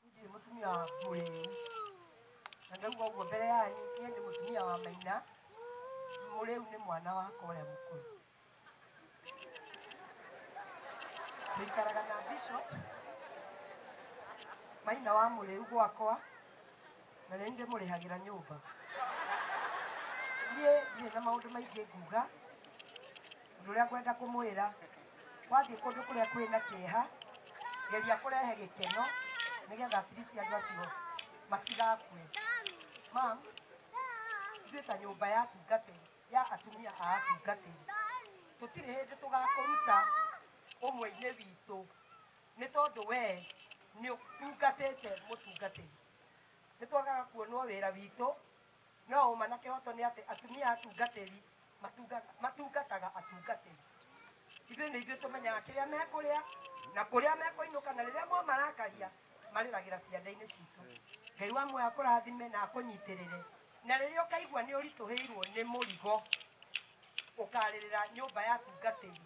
Ndirĩ mũtumia wa Mũrĩi. Na ndauga ũguo mbere yanyu, niĩ nĩ mũtumia wa Maina. Mũrĩu nĩ mwana wakwa ũrĩa mũkũrũ. Tũikaraga na Bishop Maina wa Mũrĩu gwakwa, na nĩ ndĩmũrĩhagĩra nyũmba. Niĩ ndirĩ na maũndũ maingĩ nguga. ũndũ ũrĩa ngwenda kũmwĩra wathiĩ kũndũ kũrĩa kwĩ na kĩeha geria kũrehe gĩkeno nĩgetha at least andũ acio matigakue mam ithuĩ ta nyũmba ya atungatĩri ya atumia a atungatĩri tũtirĩ hĩndĩ tũgakũruta ũmwe-inĩ witũ nĩ tondũ wee nĩ ũtungatĩte mũtungatĩri nĩ twagaga kuonwo wĩra witũ No ũma na kĩhooto nĩ atĩ atumia atungatĩri matungaga- matungataga atungatĩri. Ithuĩ nĩ ithuĩ tũmenyaga kĩrĩa mekũrĩa na kũrĩa mekũinũka, na rĩrĩa mwamarakaria marĩragĩra ciande-inĩ citũ. Ngai wa muoyo akũrathime na akũnyitĩrĩre, na rĩrĩa ũkaigua nĩ ũritũhĩirwo nĩ mũrigo, ũkarĩrĩra nyũmba ya atungatĩri.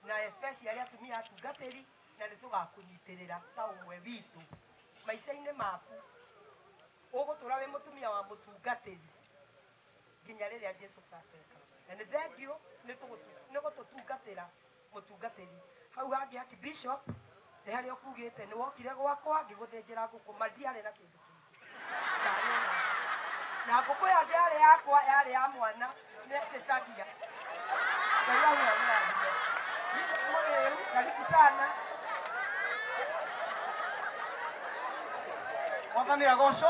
na especially atumia atungatĩri na nĩ tũgakũnyitĩrĩra ta ũmwe witũ maica-inĩ maku ũgũtũra wĩ mũtumia wa mũtungatĩri nginya rĩrĩa jesu gacoka na nĩ thengiũ nĩ tũgũtu- nĩ gũtũtungatĩra mũtungatĩri hau hangĩ haki bishop nĩ harĩa ũkugĩte nĩ wokire gwakwa ngĩgũthĩnjĩra ngũkũ ma ndiarĩ na kĩndũ kĩngĩ na ngũkũ ĩyo ndĩarĩ yakwa yarĩ ya mwana nĩtĩtagia ngai amwamũrathime bishop mũrĩu karibu sana mwathani agocwo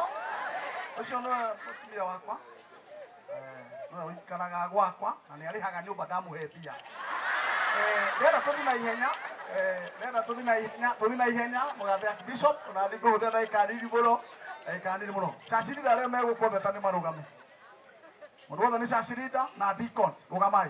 ũcio nĩwe mũtumia wakwa Eh, we ũikaraga gwakwa na nĩ arĩhaga nyũmba ndamũhe mbia Eh, rĩera tũthi na ihenya Eh, rĩera tũthi na ihenya tũthi na ihenya mũgathe ya bishop na thiĩ kũhũthĩra ndagĩka nini mũno ndagĩka nini mũno cacirira arĩa megũkũtheta nĩ marũgame mũndũ wothe nĩ cacirida na deacons rũgamai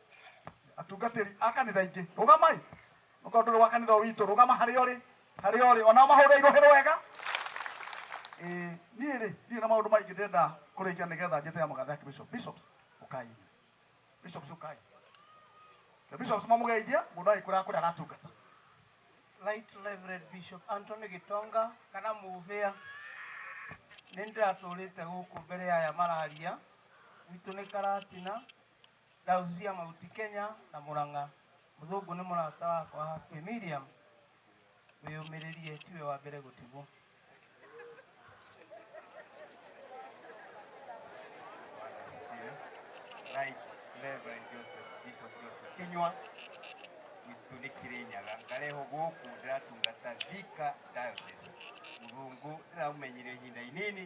atungatĩri a kanitha ingĩ rũgamai okorwo ndũrĩ wa kanitha ũyũ witũ rũgama harĩa ũrĩ harĩa ũrĩ onao mahũre irũhĩ rwega Ĩĩ, niĩ rĩ niĩ na maũndũ maingĩ ndĩrenda kũrĩkia nĩgetha njĩte ya magatha yake bishop bishops ũkai bishops ũkai the bishops mamũgeithie mũndũ agĩkũra kũrĩa aratungata Right Reverend Bishop Anthony Gitonga kana Muvia nĩ ndĩratũrĩte gũkũ mbere ya aya mararia gwitũ nĩ Karatina Dazu cia mahuti Kenya na Murang'a. Mũthũngũ nĩ mũrata wakwa happy Miriam wĩyũmĩrĩrie tiwe wa mbere gũtigwo. Right, Reverend Joseph, Bishop Joseph Kinyua witũ nĩ Kĩrĩnyaga ndarehwo gũkũ ndĩratungata Thika Diocese. Mũthũngũ ndĩramũmenyire ihinda inini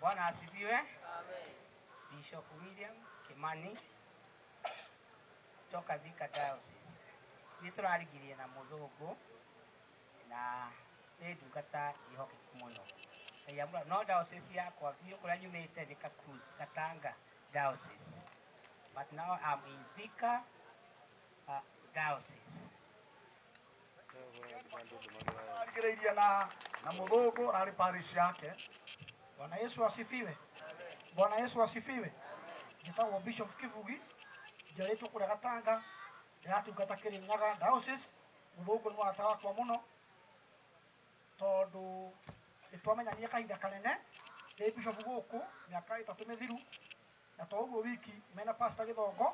Bwana asifiwe. Bishop William Kimani toka Thika Diocese. Nĩ tũrarigirie na mũthũngũ na nĩ ndungata ihokeku mũno. Ngai amũra- No diocese yakwa biũ kũrĩa nyumĩte nĩ Kakuzi, Gatanga Diocese. But now I'm in Thika uh, Diocese. arigĩrĩirie na na mũthũngũ ararĩ parish yake bwana yesu asifiwe bwana yesu asifiwe njĩtagwo bishop kibugi njarĩtwo kũrĩa gatanga ndĩratungata kĩrĩnyaga diocese mũthũngũ nĩ warata wakwa mũno tondũ nĩtwamenyanire kahinda kanene ndĩ bishop gũkũ mĩaka ĩtatũ mĩthiru na to ũguo wiki mena pasta gĩthongo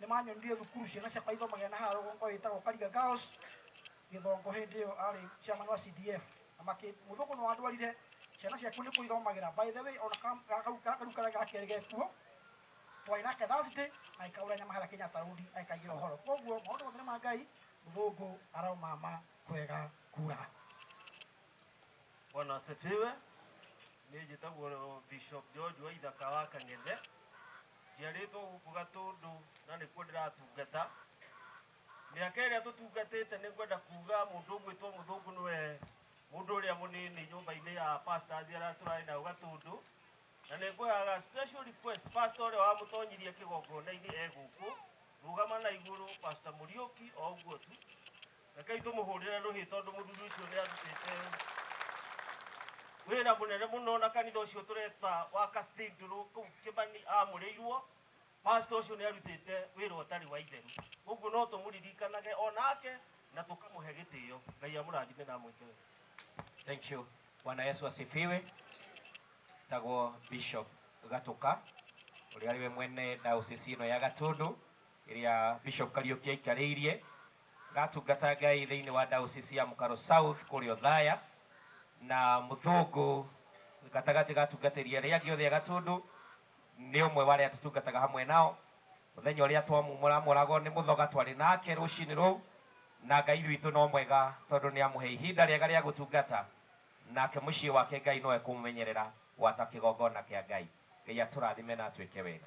nĩ manyonirie thukuru ciana ciakwa ithomagĩra na haha rũgongo ĩtagwo kariga girls gĩthongo hĩndĩ ĩyo arĩ chairman wa cdf na makĩ mũthũngũ nĩ wandwarire ciana ciaku nĩ kũithomagĩra by the way ona kam- ga- kau- ga- kau karĩa ga kerĩ gekuo twarĩ nake thursday na ikaura nyama harĩa kenyatta road aikaigĩra ũhoro koguo maũndũ mothe nĩ ma ngai mũthũngũ araumama kwega kuraga Bwana asifiwe. Nĩ njĩtagwo Bishop George wa ithaka wa Kang'ethe. Njiarĩtwo gũkũ Gatũndũ na nĩkuo ndĩratungata. Mĩaka ĩrĩa tũtungatĩte nĩ ngwenda kuuga mũndũ ũgwĩtwo mũthũngũ nĩwe mũndũ ũrĩa mũnini nyũmba-inĩ ya pastor Aziara tũrarĩ nayo Gatũndũ. Na nĩ ngũhaga special request pastor ũrĩa wamũtonyirie kĩgongona-inĩ e gũkũ, rũgama na igũrũ pastor Mũriũki o ũguo tu. rekei tũmũhũrĩre rũhĩ tondũ mũthuri ũcio nĩ arutĩte wĩra mũnene mũno na kanitha ũcio tũreta wa kathindũrũ kũu kĩmani amũrĩirwo pasta ũcio nĩ arutĩte wĩra ũtarĩ wa itheru ũguo no tũmũririkanage o nake na tũkamũhe gĩtĩo ngai amũrathime na amwĩke wega Thank you. Bwana Yesu asifiwe. Tagwo Bishop Gatuka ũrĩa arĩwe mwene diocese ĩno ya Gatundu ĩrĩa Bishop Kariuki aikarĩirie gatungata Ngai thĩinĩ wa ndaũcisi ya Mũkaro South kũrĩa Othaya, na Mũthũngũ gatagatĩ ga atungatĩri arĩa angĩ othe a Gatũndũ nĩ ũmwe wa arĩa tũtungataga hamwe nao. Mũthenya ũrĩa twamũramũraga nĩ mũthoga twarĩ nake rũcinĩ rũu, na Ngai witũ no mwega tondũ nĩ amũhe ihinda rĩega rĩa gũtungata, nake mũciĩ wake Ngai no ekũmũmenyerera gwata kĩgongona kĩa Ngai. Ngai atũrathime na atwĩke wega.